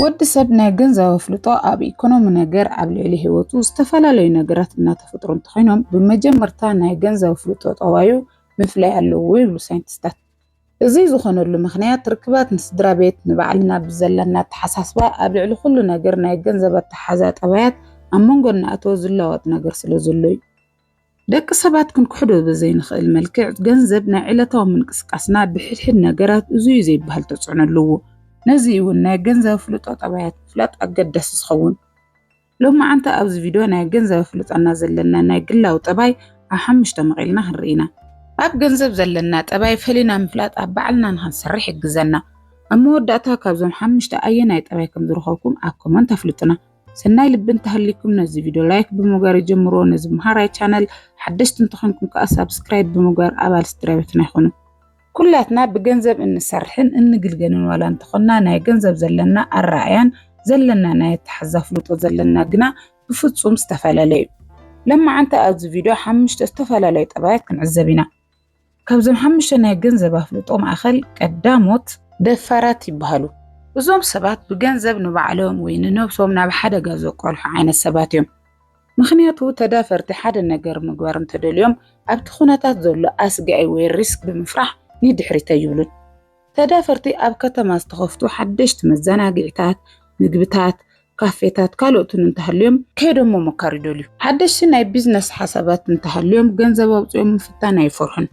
ወዲ ሰብ ናይ ገንዘብ ኣፍልጦ ኣብ ኢኮኖሚ ነገር ኣብ ልዕሊ ህይወቱ ዝተፈላለዩ ነገራት እናተፈጥሩ እንተኾይኖም ብመጀመርታ ናይ ገንዘብ ኣፍልጦ ጠባዩ ምፍላይ ኣለዎ ይብሉ ሳይንቲስታት። እዚ ዝኾነሉ ምክንያት ርክባት ንስድራ ቤት ንባዕልና ብዘለና ኣተሓሳስባ ኣብ ልዕሊ ኩሉ ነገር ናይ ገንዘብ ኣተሓዛ ጠባያት ኣብ መንጎ እናእተወ ዝለዋወጥ ነገር ስለ ዘሎ እዩ። ደቂ ሰባት ክንክሕዶ ብዘይንኽእል መልክዕ ገንዘብ ናይ ዕለታዊ ምንቅስቃስና ብሕድሕድ ነገራት እዙይ ዘይበሃል ተፅዕኖ ኣለዎ። ነዙይ እውን ናይ ገንዘብ ኣፍልጦ ጠባያት ምፍላጥ ኣገዳሲ ዝኸውን። ሎማዓንቲ ኣብዚ ቪድዮ ናይ ገንዘብ ኣፍልጦና ዘለና ናይ ግላዊ ጠባይ ኣብ ሓሙሽተ መቒልና ክንርኢ ኢና። ኣብ ገንዘብ ዘለና ጠባይ ፈሊና ምፍላጥ ኣብ ባዕልና ንክንሰርሕ ይሕግዘና። ኣብ መወዳእታ ካብዞም ሓሙሽተ ኣየናይ ጠባይ ከምዝረኸብኩም ኣብ ኮመንት ኣፍልጡና። ሰናይ ልቢ እንተሃልይኩም ነዚ ቪድዮ ላይክ ብምግባር ይጀምርዎ። ነዚ መሃራይ ቻነል ሓደሽቲ እንተኾንኩም ከዓ ሳብስክራይብ ብምግባር ኣባል ስድራ ቤትና ይኹኑ። ኩላትና ብገንዘብ እንሰርሕን እንግልገልን ዋላ እንተኾንና ናይ ገንዘብ ዘለና ኣረኣእያን ዘለና ናይ ኣተሓዛ ፍልጦ ዘለና ግና ብፍፁም ዝተፈላለየ እዩ። ለማዓንቲ ኣብዚ ቪድዮ ሓምሽተ ዝተፈላለዩ ጠባያት ክንዕዘብ ኢና። ካብዞም ሓሙሽተ ናይ ገንዘብ ኣፍልጦ ማእኸል ቀዳሞት ደፋራት ይበሃሉ። እዞም ሰባት ብገንዘብ ንባዕሎም ወይ ንነብሶም ናብ ሓደጋ ዘቋልሑ ዓይነት ሰባት እዮም። ምኽንያቱ ተዳፈርቲ ሓደ ነገር ምግባር እንተደልዮም ኣብቲ ኩነታት ዘሎ ኣስጋኢ ወይ ሪስክ ብምፍራሕ ንድሕሪት ኣይብሉን። ተዳፈርቲ ኣብ ከተማ ዝተኸፍቱ ሓደሽቲ መዘናግዒታት፣ ምግብታት፣ ካፌታት ካልኦትን እንተሃልዮም ከይዶም ምሞካር ይደልዩ። ሓደሽቲ ናይ ቢዝነስ ሓሳባት እንተሃልዮም ገንዘብ ኣውጺኦም ምፍታን ኣይፈርሑን።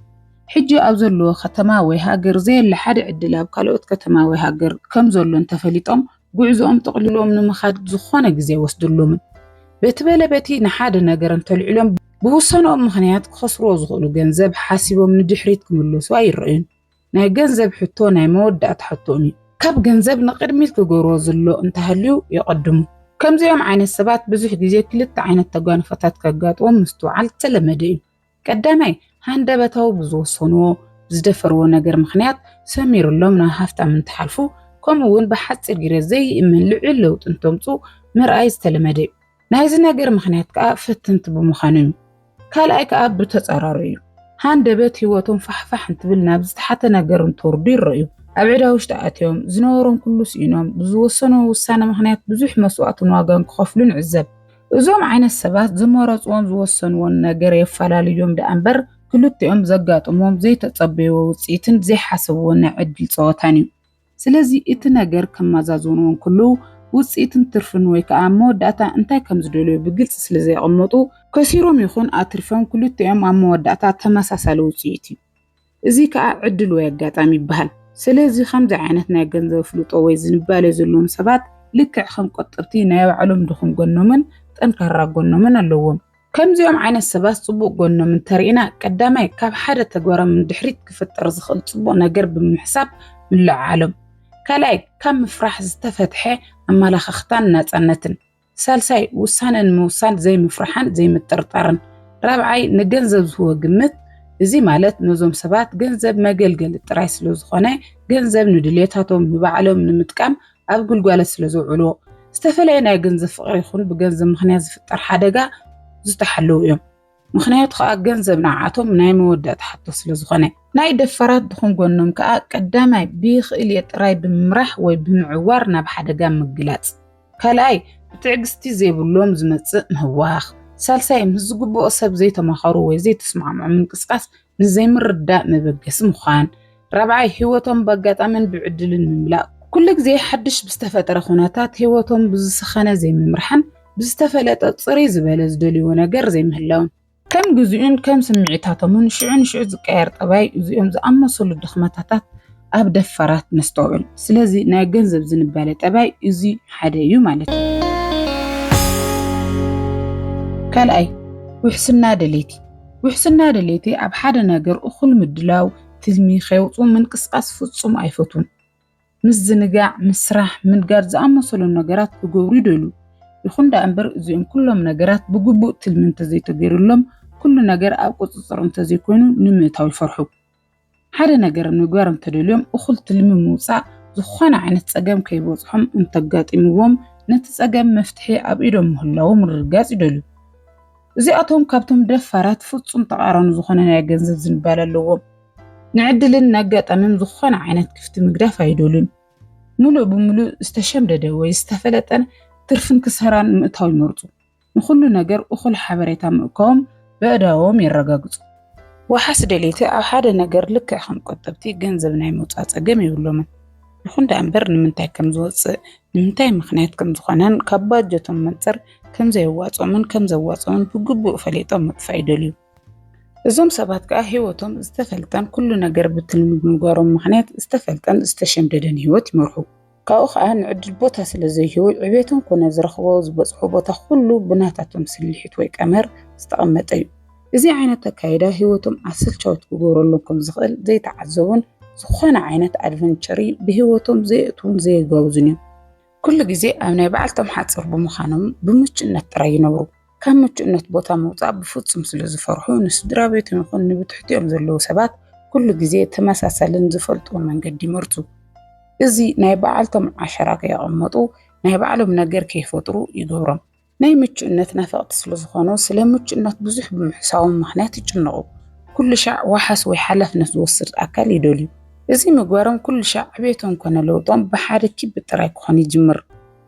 ሕጂ ኣብ ዘለዎ ከተማ ወይ ሃገር ዘየለ ሓደ ዕድል ኣብ ካልኦት ከተማ ወይ ሃገር ከም ዘሎ እንተፈሊጦም ጉዕዞኦም ጠቕሊሎም ንምኻድ ዝኾነ ግዜ ኣይወስደሎምን። በቲ በለ በቲ ንሓደ ነገር እንተልዒሎም ብውሳነኦም ምኽንያት ክኸስርዎ ዝኽእሉ ገንዘብ ሓሲቦም ንድሕሪት ክምለሱ ኣይረኣዩን። ናይ ገንዘብ ሕቶ ናይ መወዳእታ ሕቶን እዩ። ካብ ገንዘብ ንቕድሚት ክገብርዎ ዝሎ እንተሃልዩ የቐድሙ። ከምዚኦም ዓይነት ሰባት ብዙሕ ግዜ ክልተ ዓይነት ተጓንፎታት ከጋጥዎም ምስትውዓል ዝተለመደ እዩ። ቀዳማይ፣ ሃንደበታዊ ብዝወሰንዎ፣ ብዝደፈርዎ ነገር ምኽንያት ሰሚሩሎም ናብ ሃፍታም እንትሓልፉ ከምኡ'ውን ብሓጺር ግዜ ዘይእመን ልዑል ለውጢ እንተምጽኡ ምርኣይ ዝተለመደ እዩ። ናይዚ ነገር ምኽንያት ከዓ ፈተንቲ ብምዃኖም እዩ። ካልኣይ ከዓ ብተፃራሩ እዩ። ሃንደበት ህይወቶም ፋሕፋሕ እንትብል ናብ ዝተሓተ ነገር እንትወርዱ ይረእዩ። ኣብ ዕዳ ውሽጢ ኣትዮም፣ ዝነበሮም ኩሉ ስኢኖም፣ ብዝወሰንዎ ውሳነ ምኽንያት ብዙሕ መስዋእትን ዋጋን ክኸፍሉ ንዕዘብ። እዞም ዓይነት ሰባት ዝመረፅዎን ዝወሰንዎን ነገር የፈላልዮም ደኣ እምበር ክልቲኦም ዘጋጥሞም ዘይተፀበይዎ ውፅኢትን ዘይሓሰብዎ ናይ ዕድል ፀወታን እዩ። ስለዚ እቲ ነገር ከማዛዝንዎ እንክልዉ ውጽኢትን ትርፍን ወይ ከኣ ኣብ መወዳእታ እንታይ ከም ዝደልዩ ብግልጺ ስለ ዘየቐመጡ፣ ከሲሮም ይኹን ኣትሪፎም ክልቲኦም ኣብ መወዳእታ ተመሳሳሊ ውጽኢት እዩ። እዚ ከኣ ዕድል ወይ ኣጋጣሚ ይበሃል። ስለዚ ከምዚ ዓይነት ናይ ገንዘብ ኣፍልጦ ወይ ዝንባሌ ዘለዎም ሰባት ልክዕ ከም ቆጠብቲ ናይ ባዕሎም ድኹም ጎኖምን ጠንካራ ጎኖምን ኣለዎም። ከምዚኦም ዓይነት ሰባት ጽቡቕ ጎኖም እንተርኢና፣ ቀዳማይ ካብ ሓደ ተግባሮም ንድሕሪት ክፍጠር ዝኽእል ጽቡቕ ነገር ብምሕሳብ ምልዕዓሎም፣ ካልኣይ ካብ ምፍራሕ ዝተፈትሐ ኣመላኻኽታን ናጻነትን፣ ሳልሳይ ውሳነ ንምውሳን ዘይምፍርሓን ዘይምጥርጣርን፣ ራብዓይ ንገንዘብ ዝህቦ ግምት፣ እዚ ማለት ነዞም ሰባት ገንዘብ መገልገሊ ጥራይ ስለዝኾነ ገንዘብ ንድልየታቶም ንባዕሎም ንምጥቃም ኣብ ግልጓለት ስለ ዝውዕሉ ዝተፈለየ ናይ ገንዘብ ፍቕሪ ይኹን ብገንዘብ ምኽንያት ዝፍጠር ሓደጋ ዝተሓለዉ እዮም። ምኽንያቱ ከኣ ገንዘብ ንዓኣቶም ናይ መወዳእታ ሕቶ ስለ ዝኾነ። ናይ ደፋራት ድኹም ጎኖም ከኣ ቀዳማይ ብይኽእል'የ ጥራይ ብምምራሕ ወይ ብምዕዋር ናብ ሓደጋ ምግላጽ፣ ካልኣይ ብትዕግስቲ ዘይብሎም ዝመጽእ ምህዋኽ፣ ሳልሳይ ምስ ዝግብኦ ሰብ ዘይተማኸሩ ወይ ዘይተስማዕምዑ ምንቅስቓስ፣ ንዘይምርዳእ መበገሲ ምዃን፣ ራብዓይ ህይወቶም በኣጋጣምን ብዕድልን ምምላእ፣ ኩሉ ግዜ ሓድሽ ብዝተፈጠረ ኩነታት ህይወቶም ብዝሰኸነ ዘይምምራሕን ብዝተፈለጠ ጽርይ ዝበለ ዝደልይዎ ነገር ዘይምህላውን። ከም ግዜኡን ከም ስምዒታቶምን ሽዑ ንሽዑ ዝቀያየር ጠባይ እዚኦም ዝኣመሰሉ ድኽመታታት ኣብ ደፋራት ነስተውዕል። ስለዚ ናይ ገንዘብ ዝንባለ ጠባይ እዚ ሓደ እዩ ማለት እዩ። ካልኣይ ውሕስና ደለይቲ፣ ውሕስና ድሌተይ ኣብ ሓደ ነገር እኹል ምድላው፣ ትልሚ ከየውጽኡ ምንቅስቓስ ፍጹም ኣይፈቱን። ምዝንጋዕ፣ ምስራሕ፣ ምንጋድ ዝኣመሰሉ ነገራት ክገብሩ ይደልዩ። ይኹን ደኣ እምበር እዚኦም ኩሎም ነገራት ብግቡእ ትልሚ እንተዘይተገይሩሎም፣ ኩሉ ነገር ኣብ ቁጽጽር እንተዘይኮይኑ ንምእታው ይፈርሑ። ሓደ ነገር ምግባር እንተደልዮም እኹል ትልሚ ምውፃእ ዝኾነ ዓይነት ፀገም ከይበፅሖም እንተጋጢምዎም ነቲ ፀገም መፍትሒ ኣብ ኢዶም ምህላዉ ምርግጋፅ ይደልዩ። እዚኣቶም ካብቶም ደፋራት ፍፁም ተቃራኒ ዝኾነ ናይ ገንዘብ ዝንባለ ኣለዎም። ንዕድልን ነጋጣሚን ዝኾነ ዓይነት ክፍቲ ምግዳፍ ኣይደልዩን። ምሉእ ብምሉእ ዝተሸምደደ ወይ ዝተፈለጠን ትርፍን ክሰራን ምእታው ይመርፁ። ንኹሉ ነገር እኹል ሓበሬታ ምእካቦም በእዳዎም የረጋግጹ። ዋሓስ ደለይቲ ኣብ ሓደ ነገር ልክዕ ከም ቆጠብቲ ገንዘብ ናይ ምውጻእ ጸገም የብሎምን። ይኹን ደኣ እምበር ንምንታይ ከም ዝወጽእ፣ ንምንታይ ምኽንያት ከም ዝኾነን ካብ ባጀቶም መንጽር ከም ዘየዋጽኦምን ከም ዘዋጽኦምን ብግቡእ ፈሊጦም ምጥፋእ ይደልዩ። እዞም ሰባት ከኣ ህይወቶም ዝተፈልጠን ኩሉ ነገር ብትልሚ ብምግባሮም ምኽንያት ዝተፈልጠን ዝተሸምደደን ህይወት ይመርሑ። ካብኡ ከኣ ንዕድል ቦታ ስለ ዘይህቡ ዕቤቶም ኮነ ዝረኽቦ ዝበጽሑ ቦታ ኩሉ ብናታቶም ስልሒት ወይ ቀመር ዝተቐመጠ እዩ። እዚ ዓይነት ኣካይዳ ህይወቶም ኣሰልቻዊት ክገብረሎም ከም ዝኽእል ዘይተዓዘቡን ዝኾነ ዓይነት ኣድቨንቸሪ ብህይወቶም ዘየእትዉን ዘየጋውዙን እዮም። ኩሉ ግዜ ኣብ ናይ ባዕልቶም ሓጽር ብምዃኖም ብምቹእነት ጥራይ ይነብሩ። ካብ ምቹእነት ቦታ ምውፃእ ብፍፁም ስለ ዝፈርሑ ንስድራ ቤቶም ይኹን ንብትሕቲኦም ዘለዉ ሰባት ኩሉ ግዜ ተመሳሳልን ዝፈልጥዎ መንገዲ ይመርፁ። እዚ ናይ በዓልቶም ዓሸራ ከየቐመጡ ናይ ባዕሎም ነገር ከይፈጥሩ ይገብሮም። ናይ ምቹእነት ናፈቕቲ ስለ ዝኾኑ ስለ ምቹእነት ብዙሕ ብምሕሳቦም ምኽንያት ይጭነቑ። ኩሉ ሻዕ ዋሓስ ወይ ሓላፍነት ዝወስድ ኣካል ይደልዩ። እዚ ምግባሮም ኩሉ ሻዕ ዕቤቶም ኮነ ለውጦም ብሓደ ኪቢ ጥራይ ክኾን ይጅምር።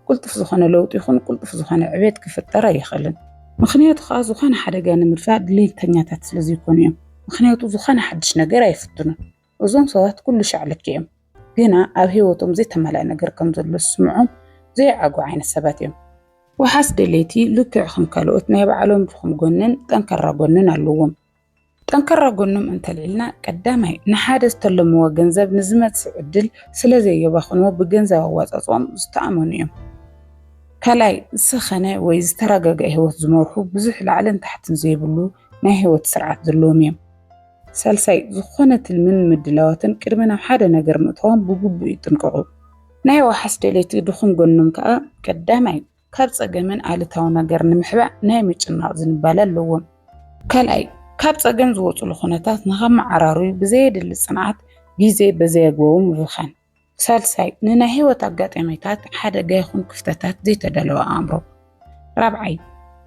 ቁልጡፍ ዝኾነ ለውጢ ይኹን ቁልጡፍ ዝኾነ ዕቤት ክፍጠር ኣይኽእልን። ምኽንያቱ ከኣ ዝኾነ ሓደጋ ንምድፋእ ድሌተኛታት ስለ ዘይኮኑ እዮም። ምኽንያቱ ዝኾነ ሓድሽ ነገር ኣይፍትኑን። እዞም ሰባት ኩሉ ሻዕ ልክዕ እዮም። ግና ኣብ ህይወቶም ዘይተማልኣ ነገር ከም ዘሎ ዝስምዖም ዘይዓግቡ ዓይነት ሰባት እዮም። ዋሕስ ደለይቲ ልክዕ ከም ካልኦት ናይ ባዕሎም ድኹም ጎንን ጠንካራ ጎንን ኣለዎም። ጠንካራ ጎኖም እንተልዒልና ቀዳማይ ንሓደ ዝተለምዎ ገንዘብ ንዝመጽእ ዕድል ስለ ዘየባኽንዎ ብገንዘብ ኣዋጻጽኦም ዝተኣመኑ እዮም። ካልኣይ ዝሰኸነ ወይ ዝተረጋግዐ ህይወት ዝመርሑ ብዙሕ ላዕልን ታሕትን ዘይብሉ ናይ ህይወት ስርዓት ዘለዎም እዮም። ሳልሳይ ዝኾነ ትልምን ምድላዋትን ቅድሚ ናብ ሓደ ነገር ምእታዎም ብግቡእ ይጥንቀቑ። ናይ ዋሕስ ደለይቲ ድኹም ጎኖም ከኣ ቀዳማይ ካብ ጸገምን ኣሉታዊ ነገር ንምሕባእ ናይ ምጭናቕ ዝንባለ ኣለዎም። ካልኣይ፣ ካብ ጸገም ዝወጹሉ ኩነታት ንኸመዓራርዩ ብዘየድሊ ጽንዓት ግዜ በዘይኣግባቡ ምብኻን። ሳልሳይ፣ ንናይ ህይወት ኣጋጣሚታት፣ ሓደጋ ይኹን ክፍተታት ዘይተዳለወ ኣእምሮ። ራብዓይ፣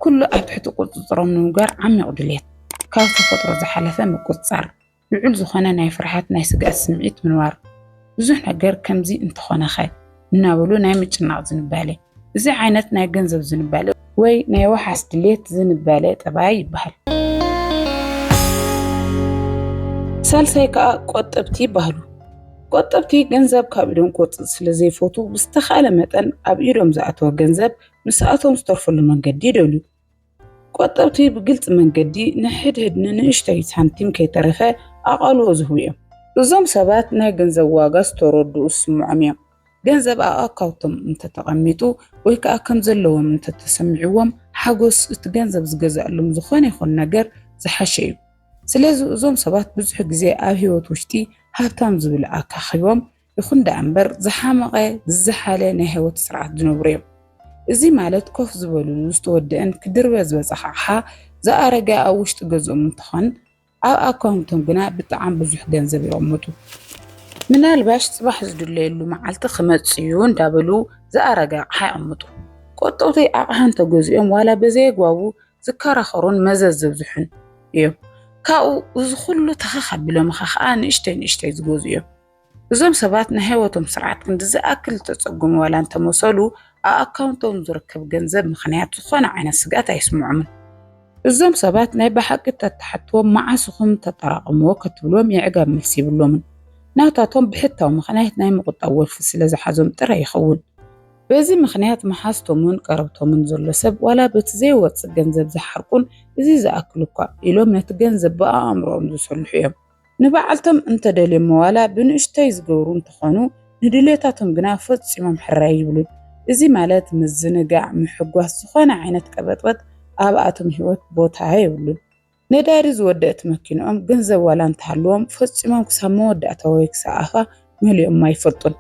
ኩሉ ኣብ ትሕቲ ቁጽጽሮም ንምግባር ዓሚቕ ድልየት፣ ካብ ተፈጥሮ ዝሓለፈ ምቁጽጻር። ልዑል ዝኾነ ናይ ፍርሓት ናይ ስግኣት ስምዒት ምንባሩ፣ ብዙሕ ነገር ከምዚ እንተኾነኸ እናበሉ ናይ ምጭናቕ ዝንባሌ፣ እዚ ዓይነት ናይ ገንዘብ ዝንባሌ ወይ ናይ ዋሕስ ድሌት ዝንባሌ ጠባይ ይበሃል። ሳልሳይ ከኣ ቆጠብቲ ይበሃሉ። ቆጠብቲ ገንዘብ ካብ ኢዶም ክወጽእ ስለ ዘይፈቱ ብዝተኻእለ መጠን ኣብ ኢዶም ዝኣተወ ገንዘብ ምስኣቶም ዝተርፈሉ መንገዲ ይደልዩ። ቆጠብቲ ብግልፂ መንገዲ ንሕድሕድ ንንእሽተይ ሳንቲም ከይተረፈ ኣቓልቦ ዝህቡ እዮም። እዞም ሰባት ናይ ገንዘብ ዋጋ ዝተረድኡ ዝስምዖም እዮም። ገንዘብ ኣብ ኣካውቶም እንተተቐሚጡ ወይ ከዓ ከም ዘለዎም እንተተሰሚዕዎም ሓጎስ እቲ ገንዘብ ዝገዝኣሎም ዝኾነ ይኹን ነገር ዝሓሸ እዩ። ስለዚ እዞም ሰባት ብዙሕ ግዜ ኣብ ህይወት ውሽጢ ሃብታም ዝብል ኣካኪቦም ይኹን ደኣ እምበር ዝሓመቐ ዝዘሓለ ናይ ህይወት ስርዓት ዝነብሩ እዮም። እዚ ማለት ኮፍ ዝበልሉ ዝተወደኣን ክድርበ ዝበፀሐ ኣቕሓ ዝኣረገ ኣብ ውሽጢ ገዝኦም እንትኾን ኣብ ኣካውንቶም ግና ብጣዕሚ ብዙሕ ገንዘብ የቐምጡ። ምናልባሽ ፅባሕ ዝድለየሉ መዓልቲ ክመፅእ እዩ እንዳበሉ ዝኣረገ ኣቕሓ የቐምጡ። ቆጠውቲ ኣቕሓ እንተገዚኦም ዋላ በዘየግባቡ ዝከራኸሩን መዘዝ ዘብዝሑን እዮም። ካብኡ እዚ ኩሉ ተኸኽ ኣቢሎምኻ ከዓ ንእሽተይ ንእሽተይ ዝገዝኡ እዮም። እዞም ሰባት ናይ ህይወቶም ስርዓት ክንዲ ዝኣክል ዝተጸገሙ ዋላ እንተመሰሉ፣ ኣብ ኣካውንቶም ዝርከብ ገንዘብ ምኽንያት ዝኾነ ዓይነት ስግኣት ኣይስምዖምን። እዞም ሰባት ናይ ብሓቂ እንተትሓትዎም መዓስ ኢኹም ተጠራቕምዎ ከትብልዎም የዕጋብ መልሲ የብሎምን። ናታቶም ብሕታዊ ምኽንያት ናይ ምቑጣብ ወልፊ ስለ ዝሓዞም ጥራይ ይኸውን። በዚ ምኽንያት መሓዝቶምን ቀረብቶምን ዘሎ ሰብ ዋላ በቲ ዘይወጽእ ገንዘብ ዝሓርቁን እዚ ዝኣክል እኳ ኢሎም ነቲ ገንዘብ ብኣእምሮኦም ዝሰልሑ እዮም። ንባዕልቶም እንተደልዮሞ ዋላ ብንእሽቶይ ዝገብሩ እንተኾኑ ንድልየታቶም ግና ፈፂሞም ሕራይ ኣይብሉን። እዚ ማለት ምዝንጋዕ፣ ምሕጓስ፣ ዝኾነ ዓይነት ቀበጥበጥ ኣብኣቶም ህይወት ቦታ የብሉን። ነዳዲ ዝወደእት መኪንኦም ገንዘብ ዋላ እንተሃልዎም ፈፂሞም ክሳብ መወዳእታ ወይ ክሳብ ኣፋ መሊኦማ ኣይፈልጡን።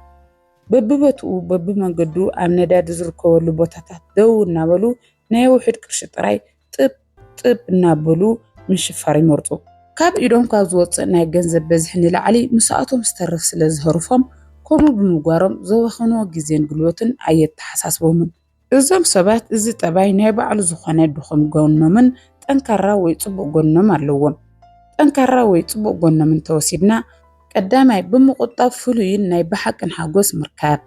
በቢቦትኡ በቢመንገዱ ኣብ ነዳዲ ዝርከበሉ ቦታታት ደው እናበሉ ናይ ውሑድ ቅርሺ ጥራይ ጥብ ጥብ እናበሉ ምሽፋር ይመርጹ። ካብ ኢዶም ካብ ዝወጽእ ናይ ገንዘብ በዝሒ ንላዕሊ ምስኣቶም ዝተርፍ ስለ ዝሀርፎም፣ ከምኡ ብምግባሮም ዘባኸንዎ ግዜን ጉልበትን ኣየተሓሳስቦምን። እዞም ሰባት እዚ ጠባይ ናይ ባዕሉ ዝኾነ ድኹም ጎኖምን ጠንካራ ወይ ጽቡቕ ጎኖም ኣለዎም። ጠንካራ ወይ ጽቡቕ ጎኖም እንተወሲድና፣ ቀዳማይ ብምቑጣብ ፍሉይን ናይ ብሓቅን ሓጎስ ምርካብ።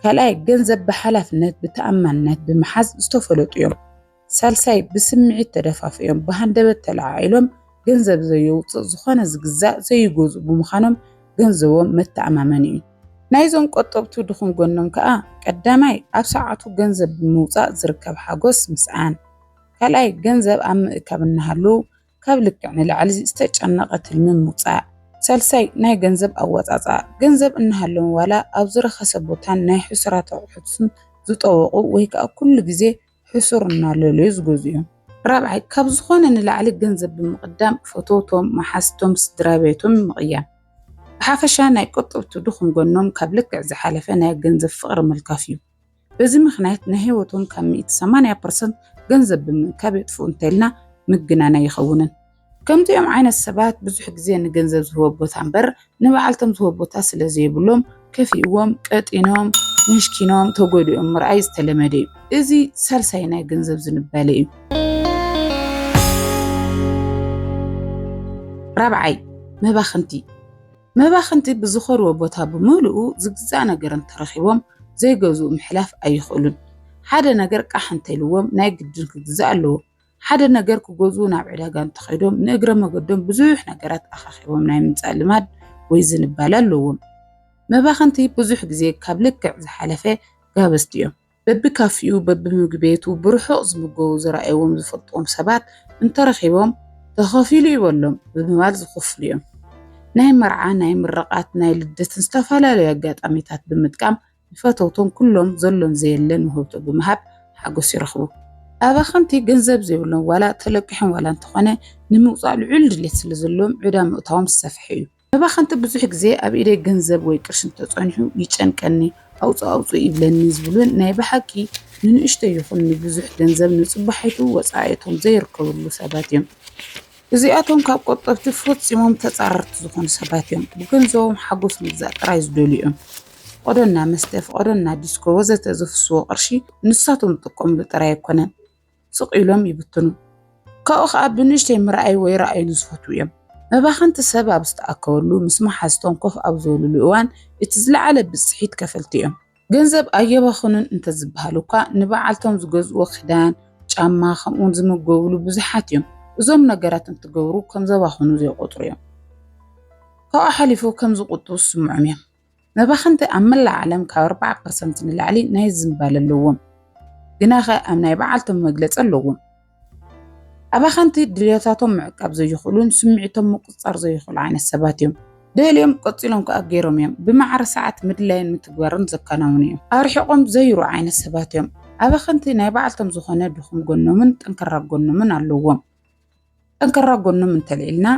ካልኣይ ገንዘብ ብሓላፍነት ብተኣማንነት ብምሓዝ ዝተፈለጡ እዮም። ሳልሳይ ብስምዒት ተደፋፊኦም ብሃንደበት ተለዓዒሎም ገንዘብ ዘየውፅእ ዝኾነ ዝግዛእ ዘይገዝኡ ብምዃኖም ገንዘቦም መተኣማመኒ እዩ። ናይዞም ቆጠብቱ ድኹም ጎኖም ከዓ ቀዳማይ ኣብ ሰዓቱ ገንዘብ ብምውፃእ ዝርከብ ሓጎስ ምስኣን፣ ካልኣይ ገንዘብ ኣብ ምእካብ እናሃለዉ ካብ ልክዕ ንላዕሊ ዝተጨነቐ ትልሚ ምውፃእ፣ ሳልሳይ ናይ ገንዘብ ኣወፃፅኣ ገንዘብ እናሃለዎም ዋላ ኣብ ዝረኸሰ ቦታን ናይ ሕሱራት ኣቑሑትን ዝጠወቑ ወይ ከዓ ኩሉ ግዜ ሕሱር እናለለዩ ዝገዝኡዮም። ራብዓይ፣ ካብ ዝኾነ ንላዕሊ ገንዘብ ብምቕዳም ፈተውቶም፣ መሓዝቶም፣ ስድራቤቶም ምቕያም። ብሓፈሻ ናይ ቆጠብቲ ድኹም ጎኖም ካብ ልክዕ ዝሓለፈ ናይ ገንዘብ ፍቕሪ ምልካፍ እዩ። በዚ ምኽንያት ናይ ህይወቶም ካብ ሚእቲ ሰማንያ ፐርሰንት ገንዘብ ብምእካብ የጥፍኡ እንተይልና ምግናን ኣይኸውንን። ከምዚኦም ዓይነት ሰባት ብዙሕ ግዜ ንገንዘብ ዝህቦ ቦታ እምበር ንባዕልቶም ዝህቦ ቦታ ስለ ዘይብሎም ከፊእዎም፣ ቀጢኖም፣ ምሽኪኖም፣ ተጎዲኦም ምርኣይ ዝተለመደ እዩ። እዚ ሳልሳይ ናይ ገንዘብ ዝንባለ እዩ። ራብዓይ መባኽንቲ መባኽንቲ ብዝኸድዎ ቦታ ብምልኡ ዝግዛእ ነገር እንተረኺቦም ዘይገዝኡ ምሕላፍ ኣይኽእሉን። ሓደ ነገር ቃሕ እንተኢልዎም ናይ ግድን ክግዛእ ኣለዎ። ሓደ ነገር ክገዝኡ ናብ ዕዳጋ እንተኸይዶም ንእግረ መገዶም ብዙሕ ነገራት ኣኻኺቦም ናይ ምምፃእ ልማድ ወይ ዝንባለ ኣለዎም። መባኸንቲ ብዙሕ ግዜ ካብ ልክዕ ዝሓለፈ ጋበዝቲ እዮም። በቢካፊኡ በቢምግቢ ቤቱ ብርሑቕ ዝምገቡ ዝረኣይዎም ዝፈልጥዎም ሰባት እንተረኺቦም ተኸፊሉ እዩ በሎም ብምባል ዝኽፍሉ እዮም። ናይ መርዓ፣ ናይ ምርቓት፣ ናይ ልደትን ዝተፈላለዩ ኣጋጣሚታት ብምጥቃም ንፈተውቶም ኩሎም ዘሎን ዘየለን ውህብቶ ብምሃብ ሓጎስ ይረኽቡ። ኣባኸንቲ ገንዘብ ዘይብሎም ዋላ ተለቂሖም ዋላ እንተኾነ ንምውጻእ ልዑል ድሌት ስለ ዘለዎም ዕዳ ምእታዎም ዝሰፈሐ እዩ። መባኸንቲ ብዙሕ ግዜ ኣብ ኢደይ ገንዘብ ወይ ቅርሺ እንተጸኒሑ ይጨንቀኒ፣ ኣውጽእ ኣውጽእ ይብለኒ ዝብሉን ናይ ብሓቂ ንንእሽቶ ይኹን ንብዙሕ ገንዘብ ንጽባሒቱ ወጻኢ'ቶም ዘይርከብሉ ሰባት እዮም። እዚኣቶም ካብ ቆጠብቲ ፈጺሞም ተጻረርቲ ዝኾኑ ሰባት እዮም። ብገንዘቦም ሓጎስ ምግዛእ ጥራይ ዝደልዩ እዮም። ፍቐዶና መስተ፣ ፍቐዶና ዲስኮ ወዘተ ዘፍስዎ ቅርሺ ንሳቶም ዝጥቀምሉ ጥራይ ኣይኮነን። ስቕ ኢሎም ይብትኑ። ካብኡ ከኣ ብንእሽተይ ምርኣይ ወይ ርኣዩሉ ዝፈትዉ እዮም። መባኸንቲ ሰብ ኣብ ዝተኣከበሉ ምስ መሓዝቶም ኮፍ ኣብ ዝበሉሉ እዋን እቲ ዝለዓለ ብጽሒት ከፈልቲ እዮም። ገንዘብ ኣየባኽኑን እንተዝበሃል እኳ ንበዓልቶም ዝገዝእዎ ክዳን፣ ጫማ ከምኡውን ዝምገብሉ ብዙሓት እዮም። እዞም ነገራት እንትገብሩ ከም ዘባኽኑ ዘይቆጽሩ እዮም። ካብኡ ሓሊፉ ከም ዝቁጥቡ ዝስምዖም እዮም። መባኽንቲ ኣብ መላእ ዓለም ካብ ኣርባዓ ፐርሰንት ንላዕሊ ናይ ዝምባለ ኣለዎም። ግናኸ ኣብ ናይ በዓልቶም መግለጺ ኣለዎም። ኣባኸንቲ ድልየታቶም ምዕቃብ ዘይኽእሉን ስምዒቶም ምቁፅፃር ዘይኽእሉ ዓይነት ሰባት እዮም። ደልዮም ቀፂሎም ከዓ ገይሮም እዮም። ብማዕረ ሰዓት ምድላይን ምትግባርን ዘከናውኑ እዮም። ኣርሒቖም ዘይሩ ዓይነት ሰባት እዮም። ኣባኸንቲ ናይ ባዕልቶም ዝኾነ ድኹም ጎኖምን ጠንከራ ጎኖምን ኣለዎም። ጠንከራ ጎኖም እንተልዒልና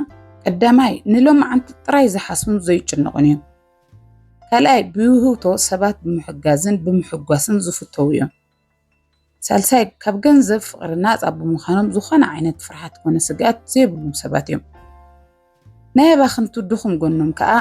ቀዳማይ ንሎማዓንቲ ጥራይ ዝሓስቡን ዘይጭነቑን እዮም። ካልኣይ ብውህብቶ ሰባት ብምሕጋዝን ብምሕጓስን ዝፍተዉ እዮም። ሳልሳይ ካብ ገንዘብ ፍቕሪ ናፃ ብምዃኖም ዝኾነ ዓይነት ፍርሓት ኮነ ስግኣት ዘይብሉም ሰባት እዮም። ናይ ኣባኽንቱ ድኹም ጎኖም ከዓ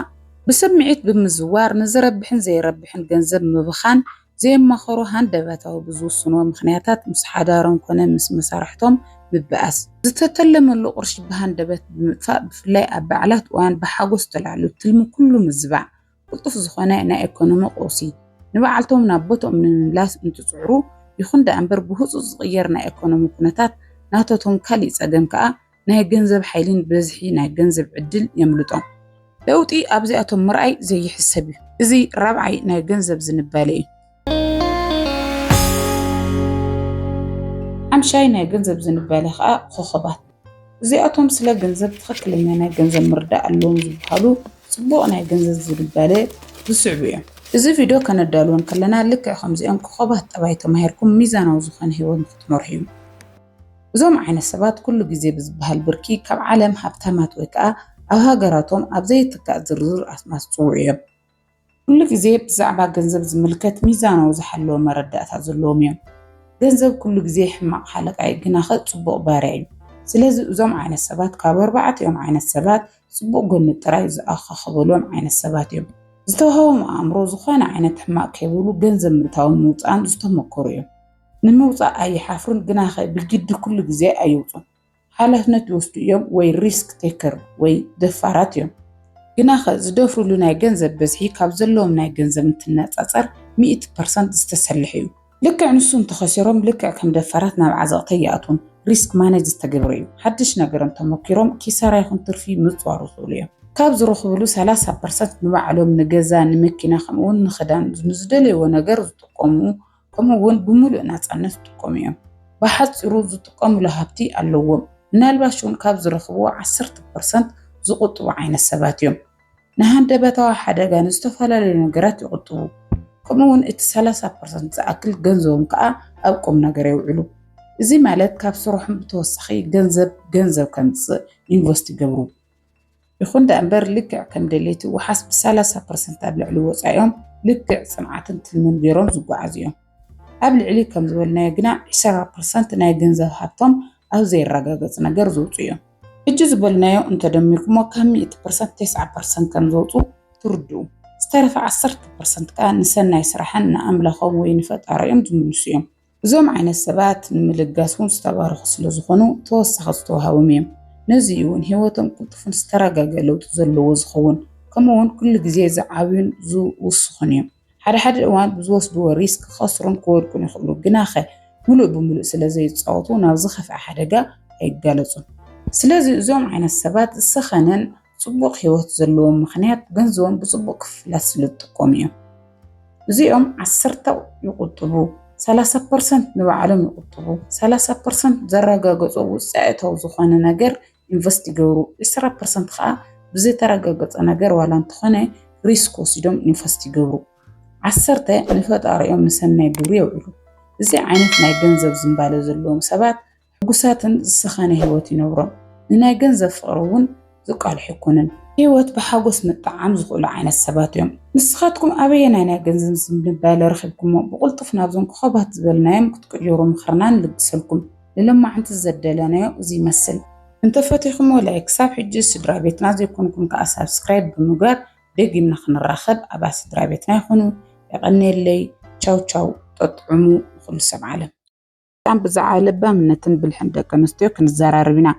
ብስምዒት ብምዝዋር ንዝረብሕን ዘይረብሕን ገንዘብ ምብኻን ዘየማኸሩ ሃንደበታዊ ብዝውስንዎ ምኽንያታት ምስ ሓዳሮም ኮነ ምስ መሳርሕቶም ምብኣስ ዝተተለመሉ ቅርሺ ብሃንደበት ብምጥፋእ ብፍላይ ኣብ በዓላት እዋን ብሓጎስ ተላዕሉ ትልሚ ኩሉ ምዝባዕ ቅልጡፍ ዝኾነ ናይ ኤኮኖሚ ቀውሲ ንበዓልቶም ናብ ቦትኦም ንምምላስ እንትጽዕሩ ይኹን ደኣ እምበር ብህጹጽ ዝቕየር ናይ ኤኮኖሚ ኩነታት ናተቶም ካሊእ ጸገም ከኣ ናይ ገንዘብ ሓይሊን ብዝሒ ናይ ገንዘብ ዕድል የምልጦም። ለውጢ ኣብዚኣቶም ምርኣይ ዘይሕሰብ እዩ። እዚ ራብዓይ ናይ ገንዘብ ዝንባሌ እዩ። ሓምሻይ ናይ ገንዘብ ዝንበለ ከዓ ኮኸባት እዚኣቶም ስለ ገንዘብ ትኽክለኛ ናይ ገንዘብ ምርዳእ ኣለዎም ዝበሃሉ ፅቡቕ ናይ ገንዘብ ዝንበለ ዝስዕቡ እዮም። እዚ ቪድዮ ከነዳልወን ከለና ልክዕ ከምዚኦም ኮኸባት ጠባይ ተማሂርኩም ሚዛናዊ ዝኾነ ህይወት ንክትመርሑ እዩ። እዞም ዓይነት ሰባት ኩሉ ግዜ ብዝበሃል ብርኪ ካብ ዓለም ሃብታማት ወይ ከዓ ኣብ ሃገራቶም ኣብ ዘይትካእ ዝርዝር ኣስማት ዝፅውዑ እዮም። ኩሉ ግዜ ብዛዕባ ገንዘብ ዝምልከት ሚዛናዊ ዝሓለወ መረዳእታ ዘለዎም እዮም። ገንዘብ ኩሉ ግዜ ሕማቕ ሓለቃ እዩ ግናኸ ጽቡቕ ባርያ እዩ። ስለዚ እዞም ዓይነት ሰባት ካብ ኣርባዕቲኦም ዓይነት ሰባት ጽቡቕ ጎኒ ጥራይ ዝኣኻኽበሎም ዓይነት ሰባት እዮም። ዝተዋህቦም ኣእምሮ ዝኾነ ዓይነት ሕማቕ ከይብሉ ገንዘብ ምእታውን ምውጻእን ዝተመኮሩ እዮም። ንምውጻእ ኣይሓፍሩን ግናኸ ብግዲ ኩሉ ግዜ ኣይውጹን። ሓላፍነት ዝወስዱ እዮም ወይ ሪስክ ቴከር ወይ ደፋራት እዮም። ግናኸ ዝደፍሩሉ ናይ ገንዘብ በዝሒ ካብ ዘለዎም ናይ ገንዘብ እንትነፃፀር ሚእቲ ፐርሰንት ዝተሰለሐ እዩ። ልክዕ ንሱ እንተኸሲሮም ልክዕ ከም ደፋራት ናብ ዓዘቕቲ ኣይኣትዉን። ሪስክ ማነጅ ዝተገብረ እዩ። ሓድሽ ነገር እንተሞኪሮም ኪሳራ ይኹን ትርፊ ምፅዋር ይኽእሉ እዮም። ካብ ዝረኽብሉ ሰላሳ ፐርሰንት ንባዕሎም ንገዛ፣ ንመኪና ከምኡ እውን ንኽዳን ንዝደለይዎ ነገር ዝጥቀሙ ከምኡ እውን ብምሉእ ናፃነት ይጥቀሙ እዮም። ብሓፂሩ ዝጥቀሙሉ ሃብቲ ኣለዎም። ምናልባሽ እውን ካብ ዝረኽብዎ ዓሰርተ ፐርሰንት ዝቑጥቡ ዓይነት ሰባት እዮም። ንሃንደበታዊ ሓደጋ ንዝተፈላለዩ ነገራት ይቑጥቡ። ከምኡ እውን እቲ ሰላሳ ፐርሰንት ዝኣክል ገንዘቦም ከዓ ኣብ ቁም ነገር የውዕሉ። እዚ ማለት ካብ ስርሖም ብተወሳኺ ገንዘብ ገንዘብ ከምፅእ ኢንቨስት ይገብሩ። ይኹን ደኣምበር ልክዕ ከም ደሌቲ ውሓስ ብሳላሳ ፐርሰንት ኣብ ልዕሊ ወፃኢኦም ልክዕ ፅንዓትን ትልምን ገይሮም ዝጓዓዙ እዮም። ኣብ ልዕሊ ከም ዝበልናዮ ግና ዕሰራ ፐርሰንት ናይ ገንዘብ ሃብቶም ኣብ ዘይረጋገፅ ነገር ዘውፅኡ እዮም። ሕጂ ዝበልናዮ እንተደሚርኩሞ ካብ ሚእቲ ፐርሰንት ቴስዓ ፐርሰንት ከም ዘውፅኡ ትርድኡ። ዝተረፈ ዓሰርተ ፐርሰንት ከዓ ንሰናይ ስራሕን ንኣምላኾም ወይ ንፈጣሪኦም ዝምልሱ እዮም። እዞም ዓይነት ሰባት ንምልጋስ እውን ዝተባረኹ ስለ ዝኾኑ ተወሳኺ ዝተዋሃቦም እዮም። ነዚ እውን ህይወቶም ቅልጡፍን ዝተረጋገ ለውጢ ዘለዎ ዝኸውን ከምኡ እውን ኩሉ ግዜ ዝዓብዩን ዝውስኹን እዮም። ሓደ ሓደ እዋን ብዝወስድዎ ሪስክ ክኸስሩን ክወድቁን ይኽእሉ፣ ግናኸ ምሉእ ብምሉእ ስለ ዘይፃወቱ ናብ ዝኸፍዐ ሓደጋ ኣይጋለፁን። ስለዚ እዞም ዓይነት ሰባት ዝሰኸነን ፅቡቕ ህይወት ዘለዎም ምኽንያት ገንዘቦም ብፅቡቕ ክፍላት ስለዝጥቀሙ እዮም። እዚኦም ዓሰርተ ይቁጥቡ፣ ሰላሳ ፐርሰንት ንባዕሎም ይቁጥቡ፣ ሰላሳ ፐርሰንት ዘረጋገፆ ውፅኢታዊ ዝኾነ ነገር ኢንቨስት ይገብሩ፣ ዕስራ ፐርሰንት ከዓ ብዘይተረጋገፀ ነገር ዋላ እንተኾነ ሪስክ ወሲዶም ኢንቨስት ይገብሩ። ዓሰርተ ንፈጣሪኦም ንሰናይ ግብሪ የውዕሉ። እዚ ዓይነት ናይ ገንዘብ ዝምባለ ዘለዎም ሰባት ሕጉሳትን ዝሰኸነ ህይወት ይነብሮም። ንናይ ገንዘብ ፍቕሪ እውን ዝቃልሑ ኣይኮኑን። ህይወት ብሓጎስ ምጥዓም ዝኽእሉ ዓይነት ሰባት እዮም። ንስኻትኩም ኣበየናይ ናይ ገንዘብ ዝንባለ ረኺብኩሞ? ብቕልጡፍ ናብዞም ኮኾባት ዝበልናዮም ክትቅይሩ ምኽርና ንልግሰልኩም። ንሎማዕንቲ ዘደለናዮ እዚ ይመስል። እንተፈቲኹሞ ላይክ፣ ክሳብ ሕጂ ስድራቤትና ዘይኮንኩም ከኣ ሳብስክራይብ ብምግባር ደጊምና ክንራኸብ ኣባል ስድራቤትና ይኹኑ። የቐንየለይ። ቻው ቻው። ጠጥዑሙ ንኹሉ ሰብ ዓለም። ዳም ብዛዕባ ለባምነትን ብልሕን ደቂ ኣንስትዮ ክንዘራረብ ኢና።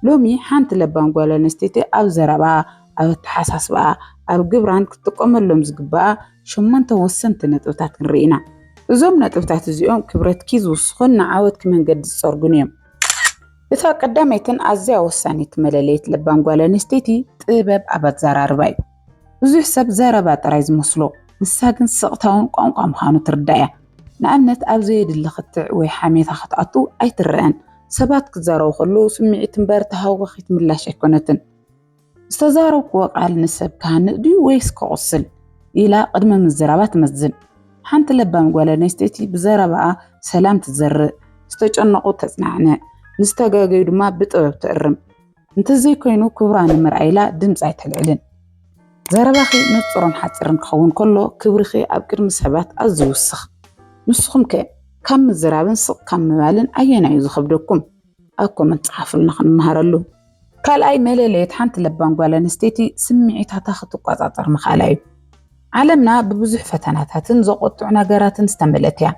ሎሚ ሓንቲ ለባም ጓል ኣንስተይቲ ኣብ ዘረባኣ፣ ኣብ ኣተሓሳስባኣ፣ ኣብ ግብራን ክትጥቀመሎም ዝግባኣ ሸሞንተ ወሰንቲ ነጥብታት ክንርኢ ኢና። እዞም ነጥብታት እዚኦም ክብረትኪ ዝውስኹን ንዓወትኪ መንገዲ ዝጸርጉን እዮም። እታ ቀዳመይትን ኣዝያ ወሳኒትን መለለዪት ለባም ጓል ኣንስተይቲ ጥበብ ኣብ ኣዘራርባ እዩ። ብዙሕ ሰብ ዘረባ ጥራይ ዝመስሎ፣ ንሳ ግን ስቕታ'ውን ቋንቋ ምዃኑ ትርዳእ እያ። ንኣብነት ኣብ ዘየድሊ ክትዕ ወይ ሓሜታ ክትኣቱ ኣይትረኣን። ሰባት ክዛረቡ ከለዉ ስምዒት እምበር ተሃዋኺት ምላሽ ኣይኮነትን። ዝተዛረብኩዎ ቃል ንሰብ ክሃንጽ ድዩ ወይስ ከቑስል? ኢላ ቅድሚ ምዝራባ ትመዝን። ሓንቲ ለባም ጓል ኣንስተይቲ ብዘረባኣ ሰላም ትዘርእ፣ ዝተጨነቑ ተጽናዕንዕ፣ ንዝተጋገዩ ድማ ብጥበብ ትእርም። እንተዘይኮይኑ ክብራ ንምርኣይ ኢላ ድምጺ ኣይተልዕልን። ዘረባኺ ንጹርን ሓጺርን ክኸውን ከሎ ክብርኺ ኣብ ቅድሚ ሰባት ኣዝዩ ይውስኽ። ንስኹምከ ካብ ምዝራብን ስቕ ካብ ምባልን ኣየናይ'ዩ ዝኸብደኩም? ኣብ ኮመንት ጽሓፉልና ክንመሃረሉ። ካልኣይ መለለዪት ሓንቲ ለባም ጓል ኣንስተይቲ ስምዒታታ ክትቆጻጸር ምኽኣላ'ዩ። ዓለምና ብብዙሕ ፈተናታትን ዘቖጥዑ ነገራትን ዝተመልእት እያ።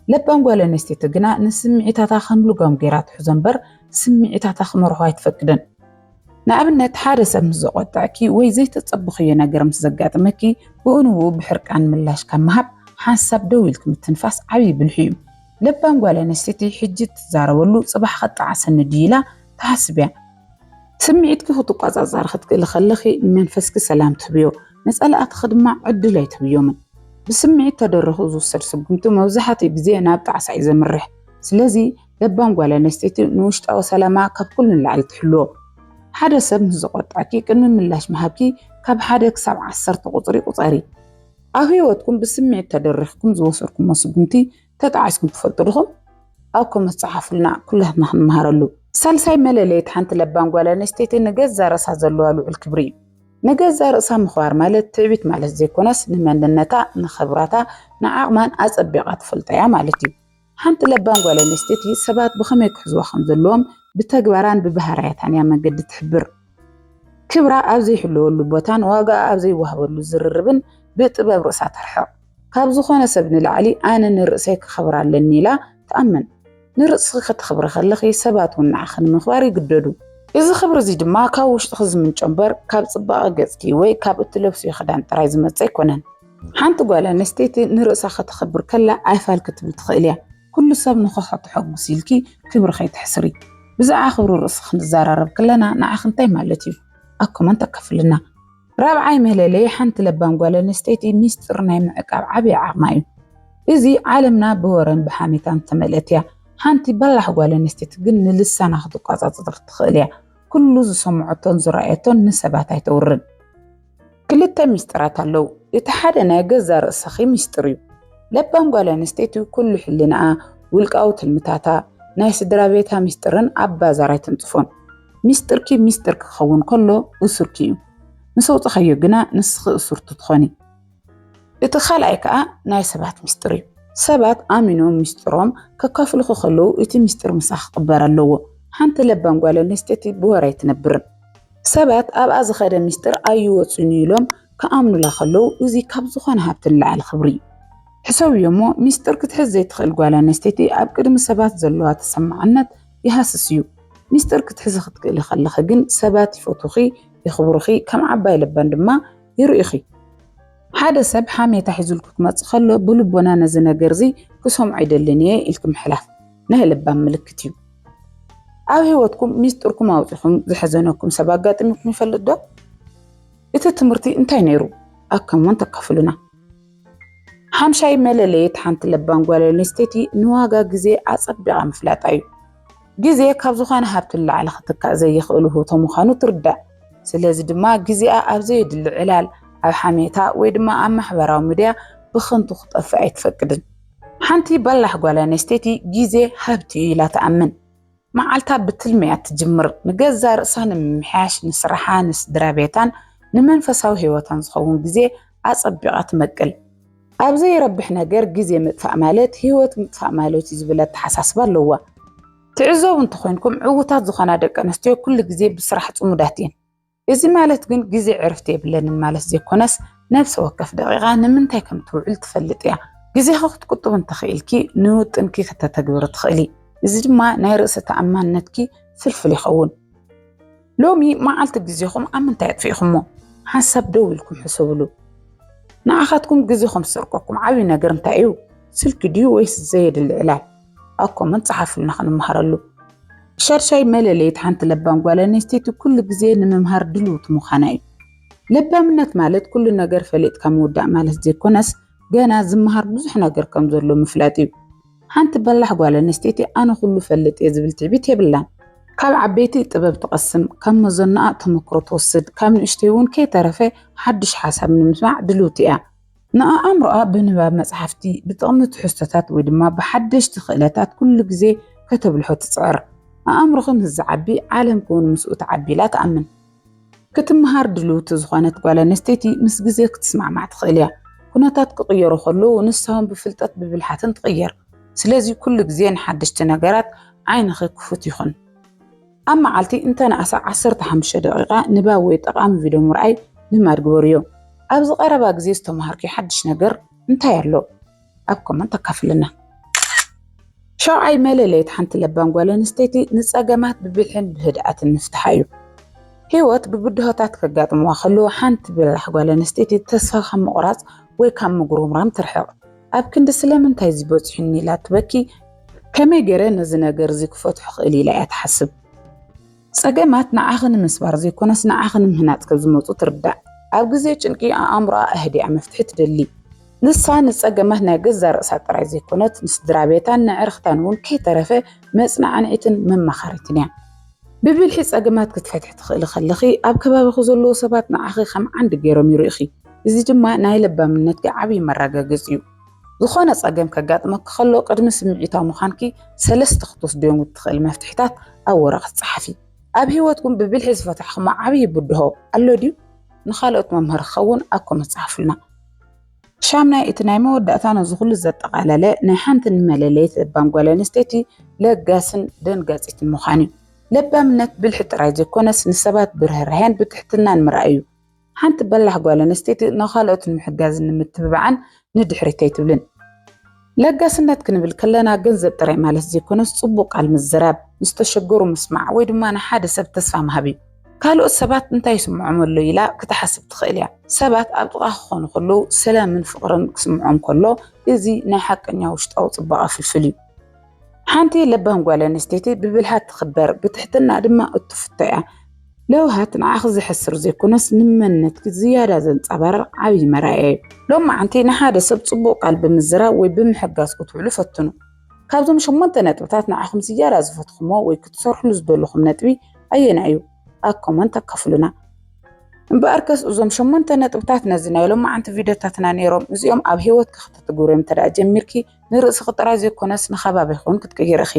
ለባም ጓል ኣንስተይቲ ግና ንስምዒታታ ከም ልጓም ገይራ ትሕዞ እምበር ስምዒታታ ክመርሖ ኣይትፈቅድን። ንኣብነት ሓደ ሰብ ምስ ዘቖጠዐኪ ወይ ዘይተጸበኽዮ ነገር ምስ ዘጋጥመኪ ብኡ ንብኡ ብሕርቃን ምላሽ ካብ ምሃብ ሓንሳብ ደው ኢልኪ ምትንፋስ ዓብዪ ብልሒ እዩ። ለባም ጓል ኣንስተይቲ ሕጂ እትዛረበሉ ጽባሕ ከጣዕሰኒ ድዩ ኢላ ትሓስብ እያ። ስምዒትኪ ክትቆጻጸሪ ክትክእሊ ከለኺ ንመንፈስኪ ሰላም ትህብዮ፣ ንጸላእትኺ ድማ ዕድል ኣይትህብዮምን። ብስምዒት ተደሪኹ ዝውሰድ ስጉምቲ መብዛሕትኡ ግዜ ናብ ጣዕሳ እዩ ዘምርሕ። ስለዚ ለባም ጓል ኣንስተይቲ ንውሽጣዊ ሰላማ ካብ ኩሉ ንላዕሊ ትሕልዎ። ሓደ ሰብ ምስ ዘቖጥዐኪ ቅድሚ ምላሽ ምሃብኪ ካብ ሓደ ክሳብ ዓሰርተ ቁጽሪ ቁጸሪ። ኣብ ህይወትኩም ብስምዒት ተደሪኽኩም ዝወሰድኩሞ ስጉምቲ ተጣዒስኩም ትፈልጡ ድኹም? ኣብ ኮመንት ጸሓፉልና ኩላትና ክንመሃረሉ። ሳልሳይ መለለይት ሓንቲ ለባም ጓል ኣንስተይቲ ንገዛ ርእሳ ዘለዋ ልዑል ክብሪ እዩ። ንገዛ ርእሳ ምኽባር ማለት ትዕቢት ማለት ዘይኮነስ ንመንነታ፣ ንኽብራታ፣ ንዓቕማን ኣጸቢቓ ትፈልጦ እያ ማለት እዩ። ሓንቲ ለባም ጓል ኣንስተይቲ ሰባት ብኸመይ ክሕዝዋ ከምዘለዎም ብተግባራን ብባህርያታን እያ መንገዲ ትሕብር። ክብራ ኣብ ዘይሕለወሉ ቦታን ዋጋኣ ኣብ ዘይወሃበሉ ዝርርብን ብጥበብ ርእሳ ተርሕቕ። ካብ ዝኾነ ሰብ ንላዕሊ ኣነ ንርእሰይ ከኽብራ ኣለኒ ኢላ ትኣምን። ንርእስኺ ከተኽብሪ ከለኺ ሰባት እውን ንዓኺ ንምኽባር ይግደዱ። እዚ ክብሪ እዚ ድማ ካብ ውሽጥኺ ዝምንጮ እምበር ካብ ጽባቐ ገጽኪ ወይ ካብ እትለብስዮ ክዳን ጥራይ ዝመጽእ ኣይኮነን። ሓንቲ ጓል ኣንስተይቲ ንርእሳ ከተኽብር ከላ ኣይፋል ክትብል ትኽእል እያ። ኩሉ ሰብ ንኸሖ ተሐጉስ ኢልኪ ክብሪ ከይተሕስሪ ብዛዕባ ክብሪ ርእሲ ክንዛራረብ ክለና ንዓኺ እንታይ ማለት እዩ ኣብ ኮመንት ኣካፍልና። ራብዓይ መለለዪ ሓንቲ ለባም ጓል ኣንስተይቲ ሚስጥር ናይ ምዕቃብ ዓቢ ዓቕማ እዩ። እዚ ዓለምና ብወረን ብሓሜታን ዝተመልእት እያ። ሓንቲ በላሕ ጓል ኣንስተይቲ ግን ንልሳና ክትቋጻጸር ትኽእል እያ። ኩሉ ዝሰምዖቶን ዝረኣየቶን ንሰባት ኣይተውርን። ክልተ ሚስጥራት ኣለዉ እቲ ሓደ ናይ ገዛ ርእስኺ ሚስጥር እዩ ለባም ጓል ኣንስተይቲ ኩሉ ሕልናኣ ውልቃዊ ትልምታታ ናይ ስድራ ቤታ ሚስጥርን ኣብ ባዛር ኣይትንጽፎን ሚስጥርኪ ሚስጥር ክኸውን ከሎ እሱርኪ እዩ ምስ ኣውጽኻዮ ግና ንስኺ እሱርቲ ትኾኒ እቲ ካልኣይ ከዓ ናይ ሰባት ሚስጥር እዩ ሰባት ኣሚኖም ሚስጥሮም ከካፍልኹ ከለዉ እቲ ሚስጥር ምሳኺ ክቕበር ኣለዎ ሓንቲ ለባም ጓል ኣንስተይቲ ብወረ ኣይትነብርን ሰባት ኣብኣ ዝኸደ ምስጢር ኣይወፅኡን ኢሎም ክኣምኑላ ከለዉ እዚ ካብ ዝኾነ ሃብቲ ንላዕሊ ክብሪ እዩ። ሕሰብዮ እሞ ምስጢር ክትሕዝ ዘይትኽእል ጓል ኣነስተይቲ ኣብ ቅድሚ ሰባት ዘለዋ ተሰማዕነት ይሃስስ እዩ። ምስጢር ክትሕዚ ክትክእሊ ከለኺ ግን ሰባት ይፈትዉኺ፣ የኽብሩኺ፣ ከም ዓባይ ለባም ድማ ይርእዩኺ። ሓደ ሰብ ሓሜታ ሒዙልኪ ክመፅእ ከሎ ብልቦና ነዚ ነገር እዚ ክሰምዖ ኣይደልን እየ ኢልኪ ምሕላፍ። ናይ ለባም ምልክት እዩ። ኣብ ህይወትኩም ሚስጥርኩም ኣውፂኹም ዘሐዘነኩም ሰብ ኣጋጢሙኩም ይፈልጥ ዶ? እቲ ትምህርቲ እንታይ ነይሩ? ኣብ ከመን ተካፍሉና። ሓምሻይ መለለየት ሓንቲ ለባም ጓል ኣንስተይቲ ንዋጋ ግዜ ኣጸቢቓ ምፍላጣ እዩ። ግዜ ካብ ዝኾነ ሃብቲ ንላዕሊ ክትካእ ዘይኽእል ውህብቶ ምዃኑ ትርዳእ። ስለዚ ድማ ግዜኣ ኣብ ዘየድሊ ዕላል፣ ኣብ ሓሜታ ወይ ድማ ኣብ ማሕበራዊ ሚድያ ብኸንቱ ክጠፍእ ኣይትፈቅድን። ሓንቲ በላሕ ጓል ኣንስተይቲ ግዜ ሃብቲ እዩ ኢላ ትኣምን። መዓልታ ብትልሚ እያ እትጅምር፣ ንገዛእ ርእሳ ንምምሕያሽ፣ ንስራሓ፣ ንስድራ ቤታን ንመንፈሳዊ ህይወታን ዝኸውን ግዜ ኣጸቢቓ ትመቅል። ኣብ ዘይረብሕ ነገር ግዜ ምጥፋእ ማለት ህይወት ምጥፋእ ማለት እዩ ዝብል ኣተሓሳስባ ኣለዋ። ትዕዘቡ እንተኾይንኩም ዕዉታት ዝኾና ደቂ ኣንስትዮ ኩሉ ግዜ ብስራሕ ጽሙዳት እየን። እዚ ማለት ግን ግዜ ዕርፍቲ የብለንን ማለት ዘይኮነስ ነብሰ ወከፍ ደቂቃ ንምንታይ ከም ትውዕል ትፈልጥ እያ። ግዜኺ ክትቁጥቢ እንተኽኢልኪ ንውጥንኪ ክተተግብሪ ትኽእሊ። እዚ ድማ ናይ ርእሰ ተኣማንነትኪ ፍልፍል ይኸውን። ሎሚ መዓልቲ ግዜኹም ኣብ ምንታይ ኣጥፊእኹሞ? ሓንሳብ ደው ኢልኩም ሕሰብሉ። ንዓኻትኩም ግዜኹም ዝሰርቀኩም ዓብዪ ነገር እንታይ እዩ? ስልኪ ድዩ ወይስ ዘየድሊ ዕላል? ኣብ ኮመንት ጸሓፍልና ክንመሃረሉ። ሻድሻይ መለለይት ሓንቲ ለባም ጓል ኣንስተይቲ ኩሉ ግዜ ንምምሃር ድልውቲ ምዃና እዩ። ለባምነት ማለት ኩሉ ነገር ፈሊጥካ ምውዳእ ማለት ዘይኮነስ ገና ዝመሃር ብዙሕ ነገር ከም ዘሎ ምፍላጥ እዩ። ሓንቲ በላሕ ጓል ኣንስተይቲ ኣነ ኩሉ ፈልጥ እየ ዝብል ትዕቢት የብላን። ካብ ዓበይቲ ጥበብ ትቐስም፣ ካብ መዘኖኣ ተመክሮ ትወስድ፣ ካብ ንእሽተይ እውን ከይተረፈ ሓድሽ ሓሳብ ንምስማዕ ድልውቲ እያ። ንኣእምሮኣ ብንባብ መጽሓፍቲ፣ ብጥቕሚ ትሕዝቶታት ወይ ድማ ብሓደሽቲ ክእለታት ኩሉ ግዜ ከተብልሖ ትጽዕር። ኣእምሮኺ ምስ ዝዓቢ ዓለምኪ እውን ምስኡ ትዓቢ ኢላ ትኣምን። ክትመሃር ድልውቲ ዝኾነት ጓል ኣንስተይቲ ምስ ግዜ ክትስማዕማዕ ትኽእል እያ። ኩነታት ክቕየሩ ከለዉ ንሳ እውን ብፍልጠት ብብልሓትን ትቕየር። ስለዚ ኩሉ ግዜ ንሓደሽቲ ነገራት ዓይንኺ ክፉት ይኹን። ኣብ መዓልቲ እንተነኣሰ ዓሰርተ ሓሙሽተ ደቒቓ ንባብ ወይ ጠቓሚ ቪድዮ ምርኣይ ልማድ ግበርዮ። ኣብዚ ቀረባ ግዜ ዝተመሃርክዮ ሓድሽ ነገር እንታይ ኣሎ? ኣብ ኮመንት ኣካፍልና። ሻውዓይ መለለይት ሓንቲ ለባም ጓል ኣንስተይቲ ንጸገማት ብብልሕን ብህድኣትን ምፍትሓ እዩ። ህይወት ብብድሆታት ከጋጥምዋ ከለዉ ሓንቲ በላሕ ጓል ኣንስተይቲ ተስፋ ካብ ምቑራጽ ወይ ካብ ምጉርምራም ትርሕቕ። ኣብ ክንዲ ስለምንታይ እዚ በጺሑኒ ኢላ እትበኪ ከመይ ገይረ ነዚ ነገር እዚ ክፈትሖ ክእል ኢላ እያ ትሓስብ። ጸገማት ንዓኺ ንምስባር ዘይኮነስ ንዓኺ ንምህናጽ ከም ዝመጹ ትርዳእ። ኣብ ግዜ ጭንቂ ኣእምሮኣ ኣህዲኣ መፍትሒ ትደሊ። ንሳ ንጸገማት ናይ ገዛእ ርእሳ ጥራይ ዘይኮነት፣ ንስድራቤታን ነዕርኽታን እውን ከይተረፈ መጽናዕኒዒትን መማኸሪትን እያ። ብብልሒ ጸገማት ክትፈትሒ ትኽእሊ ከለኺ፣ ኣብ ከባቢኺ ዘለዉ ሰባት ንዓኺ ከም ዓንዲ ገይሮም ይርእዩኺ፣ እዚ ድማ ናይ ለባምነትኪ ዓብዪ መረጋገጺ እዩ። ዝኾነ ጸገም ከጋጥመኪ ከሎ ቅድሚ ስምዒታዊ ምዃንኪ ሰለስተ ክትወስድዮም እትኽእል መፍትሒታት ኣብ ወረቐት ጸሓፊ። ኣብ ህይወትኩም ብብልሒ ዝፈታሕኹሞ ዓብዪ ብድሆ ኣሎ ድዩ? ንኻልኦት መምሃሪ ክኸውን ኣብ ኮመንት ጸሓፉልና። ሻምናይ እቲ ናይ መወዳእታ ነዚ ኩሉ ዘጠቓለለ ናይ ሓንቲ ንመለለይት ለባም ጓል ኣንስተይቲ ለጋስን ደንጋጺትን ምዃን እዩ። ለባምነት ብልሒ ጥራይ ዘይኮነስ ንሰባት ብርህራሄን ብትሕትናን ምርኣይ እዩ። ሓንቲ በላሕ ጓል ኣንስተይቲ ንኻልኦት ንምሕጋዝን ንምትብባዕን ንድሕሪት ኣይትብልን። ለጋስነት ክንብል ከለና ገንዘብ ጥራይ ማለት ዘይኮነስ ጽቡቕ ቃል ምዝራብ፣ ንዝተሸገሩ ምስማዕ ወይ ድማ ንሓደ ሰብ ተስፋ ምሃብ እዩ። ካልኦት ሰባት እንታይ ይስምዖም ኣሎ ኢላ ክትሓስብ ትኽእል እያ። ሰባት ኣብ ጥቓኻ ክኾኑ ከለዉ ሰላምን ፍቕርን ክስምዖም ከሎ እዚ ናይ ሓቀኛ ውሽጣዊ ጽባቐ ፍልፍል እዩ። ሓንቲ ለባም ጓል ኣንስተይቲ ብብልሃት ትኽበር ብትሕትና ድማ እትፍቶ እያ። ለውሃት ንዓኺ ዘሕስር ዘይኮነስ ንመንነትኪ ዝያዳ ዘንጸባርቕ ዓብዪ መርኣያ እዩ። ሎም መዓንቲ ንሓደ ሰብ ጽቡቕ ቃል ብምዝራብ ወይ ብምሕጋዝ ክትውዕሉ ፈትኑ። ካብዞም ሸሞንተ ነጥብታት ንዓኹም ዝያዳ ዝፈትኹሞ ወይ ክትሰርሕሉ ዝደለኹም ነጥቢ ኣየናይ እዩ? ኣብ ኮመንት ኣካፍሉና። እምበኣርከስ እዞም ሸሞንተ ነጥብታት ነዚ ናይ ሎም መዓንቲ ቪድዮታትና ነይሮም። እዚኦም ኣብ ህይወትኪ ከተትግብርዮም እንተ ጀሚርኪ ንርእስኺ ጥራይ ዘይኮነስ ንከባቢኺ እውን ክትቅይሪ ኢኺ።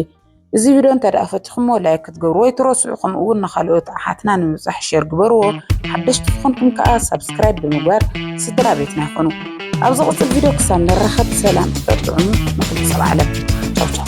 እዚ ቪድዮ እንተድኣ ፈቲኹምዎ ላይክ ክትገብርዎ ኣይትረስዑ ከምኡ እውን ንኻልኦት ኣሓትና ንምብጻሕ ሼር ግበርዎ። ሓደሽቲ ዝኾንኩም ከኣ ሳብስክራይብ ብምግባር ስድራ ቤትና ይኹኑ። ኣብ ዝቕጽል ቪድዮ ክሳብ ንራኸብ ሰላም ፍቅር ጥዑም ንኹሉ ሰብ ዓለም። ቻው ቻው።